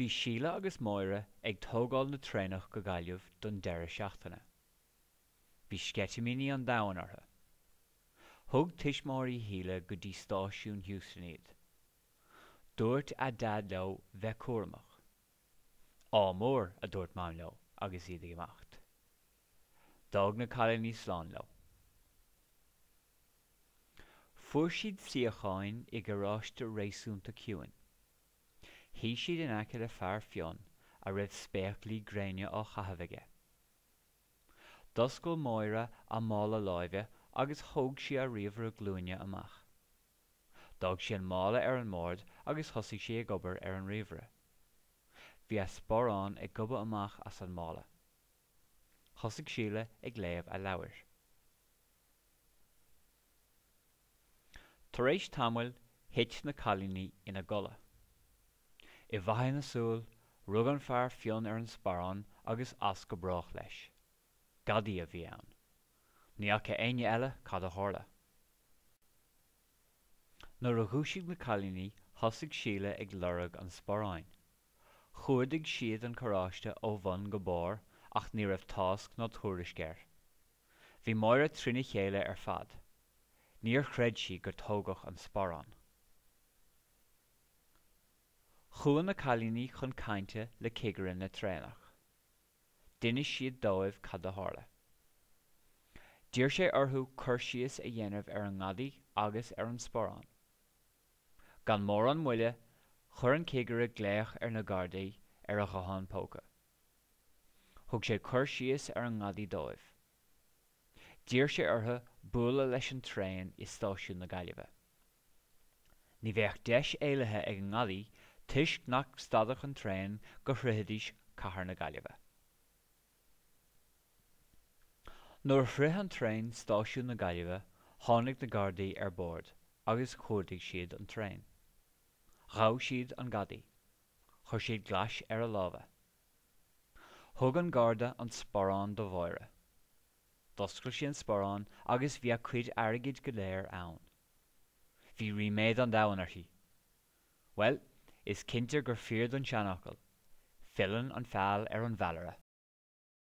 Bhí Síle agus Máire ag tógáil na traenach go Gaillimh don deireadh seachtaine. Bhí sceitimíní an domhain orthu. Thug tuismitheoirí Shíle go dtí stáisiún Heuston iad. Dúirt a Daid leo bheith cúramach. Ádh mór, a dúirt Mam leo agus iad ag imeacht. D'fhág na cailíní slán leo. Fuair siad suíocháin i gcarráiste réasúnta ciúin. Shuigh siad in aice le fear fionn a raibh spéaclaí gréine á chaitheamh aige. D'oscail Máire a mála láimhe agus thóg sí a ríomhaire glúine amach. D'fhág sí an mála ar an mbord agus thosaigh sí ag obair ar an ríomhaire. Bhí a sparán ag gobadh amach as an mála. Thosaigh Síle ag léamh a leabhair. Tar éis tamaill thit na cailíní ina gcodladh. I bhfaiteadh na súl rug an fear fionn ar an sparán agus as go brách leis. Gadaí a bhí ann. Ní fhaca éinne eile cad a tharla. Nuair a dhúisigh na cailíní thosaigh Síle ag lorg an sparáin. Chuardaigh siad an carráiste ó bhun go barr ach ní raibh tásc ná tuairisc air. Bhí Máire trína chéile ar fad. Níor chreid sí gur tógadh an sparán. Chuaigh na cailíní chun cainte le cigire na traenach. D'inis siad dóibh cad a tharla. D'iarr sé orthu cur síos a dhéanamh ar an ngadaí agus ar an sparán. Gan mórán moille chuir an Cigire glaoch ar na Gardaí ar a ghuthán póca. Thug sé cur síos ar an ngadaí dóibh. D'iarr sé orthu bualadh leis an traen i Stáisiún na Gaillimhe. Ní bheadh deis éalaithe ag an ngadaí toisc nach stadfadh an traen go shroichfidís cathair na Gaillimhe. Nuair a shroich an traen stáisiún na Gaillimhe tháinig na Gardaí ar bord agus chuardaigh siad an traen. Ghabh siad an gadaí. Chuir siad glas ar a lámha. Thug an garda an sparán do Mháire. D'oscail sí an sparán agus bhí a cuid airgid go léir ann. Bhí ríméad an domhain uirthi. Bhuel, is cinnte gur fíor don seanfhocal, Filleann an feall ar an bhfeallaire.